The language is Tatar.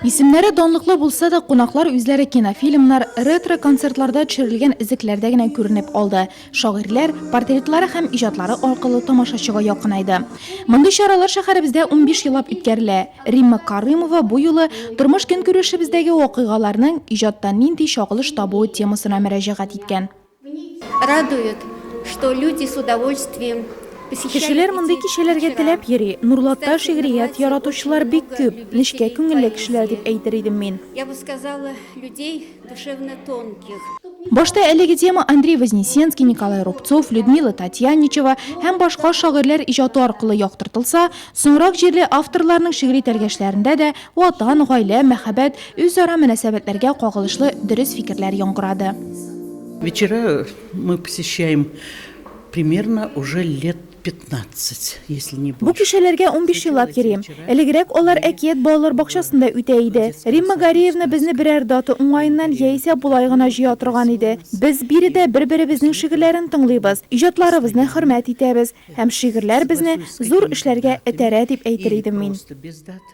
Исемнәре данлыклы булса да, кунаклар үзләре кинофильмнар, ретро-концертларда төшерелгән эзлекләрдә генә күренеп алды. Шагыйрьләр портретлары һәм иҗатлары аркылы тамашачыга якынайды. Мондый чаралар шәһәребездә унбиш еллап үткәрелә. Римма Карымова бу юлы тормыш-көнкүрешебездәге вакыйгаларның иҗатта нинди чагылыш табуы темасына мөрәҗәгать иткән. Радует, что люди с удовольствием Кешеләр мондый кичәләргә теләп йөри. Нурлатта шигърият яратучылар бик күп. Нечкә күңелле кешеләр дип әйтер идем мин. Я бы сказала, людей душевно тонких. Башта әлеге тема Андрей Вознесенский, Николай Рубцов, Людмила Татьяничева һәм башка шагыйрьләр иҗаты аркылы яктыртылса, соңрак җирле авторларның шигъри тәлгәшләрендә дә Ватан, гаилә, мәхәббәт, үзара мөнәсәбәтләргә кагылышлы дөрес фикерләр яңгырады. Вечера мы посещаем примерно уже лет 15, если не Бу кичәләргә унбиш еллап йөрим. Элегрәк алар Әкият балалар бакчасында үтә иде. Римма Гариевна безне берәр дата уңаеннан яисә болай гына җыя торган иде. Без биредә бер-беребезнең шигырьләрен тыңлыйбыз, иҗатларыбызны хөрмәт итәбез. Һәм шигырьләр безне зур эшләргә этәрә дип әйтер идем мин.